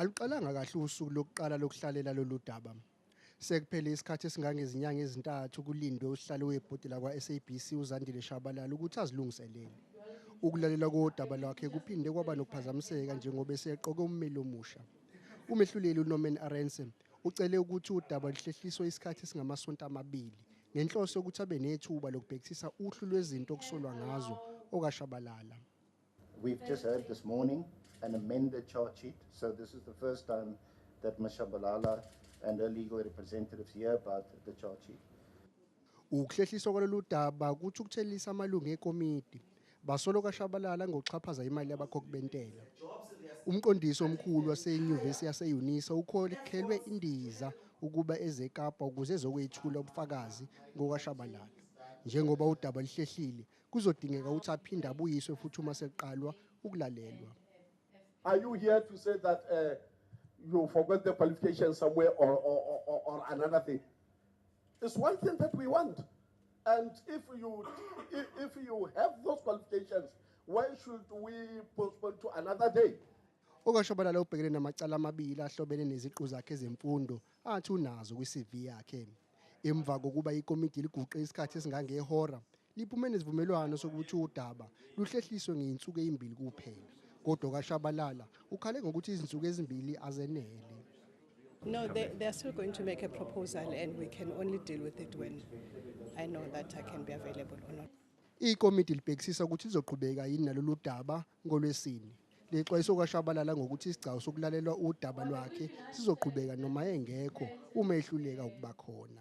Aluqalanga kahle usuku lokuqala lokuhlalela lolu daba. Sekuphele isikhathi esingangezinyanga ezintathu kulindwe usihlalo webhodi lakwa-SABC uZandile Shabalala ukuthi azilungiselele. Ukulalela kodaba lwakhe kuphinde kwaba nokuphazamiseka njengoba eseqoke ummeli omusha. Umehluleli uNorman Arendse Ucele ukuthi udaba luhlehliswe isikhathi esingamasonto amabili ngenhloso yokuthi abe nethuba lokubhekisisa uhlu lwezinto okusolwa ngazo okaShabalala. We've just had this morning an amended charge sheet, so this is the first time that Ms Shabalala and her legal representatives hear about the charge sheet. Ukuhlehliswa kwalolu daba kuthukuthelisa amalungu ekomidi. Basola uKashabalala ngokuxhaphaza imali yabakhokhi bentela. Umqondisi omkhulu wasenyuvesi yase-Unisa ukhokhelwe indiza ukuba eze eKapa ukuze ezokwethula ubufakazi ngokaShabalala. Njengoba udaba luhlehlile, kuzodingeka ukuthi aphinde abuyiswe futhi uma sekuqalwa ukulalelwa. Are you here to say that uh, you forgot the qualification somewhere or, or, or, or another thing? It's one thing that we want. And if you, if you have those qualifications, why should we postpone to another day? okashobalala ubhekene namacala amabili ahlobene neziqu zakhe zemfundo athi unazo kwi-cv yakhe emva kokuba ikomidi liguqe isikhathi esingangehora liphume nesivumelwano sokuthi udaba luhlehliswe ngeyinsuku eyimbili kuphela kodwa kaShabalala ukhale ngokuthi izinsuku ezimbili azenele No, they, they are still going to make a proposal and we can only deal with it when I know that I can be available or not. Ikomiti libhekisisa ukuthi lizoqhubeka yini nalolu daba ngolwesini. Lexwayiso kwashabalala ngokuthi isigcawu sokulalelwa udaba lwakhe sizoqhubeka noma engekho uma ehluleka ukuba khona.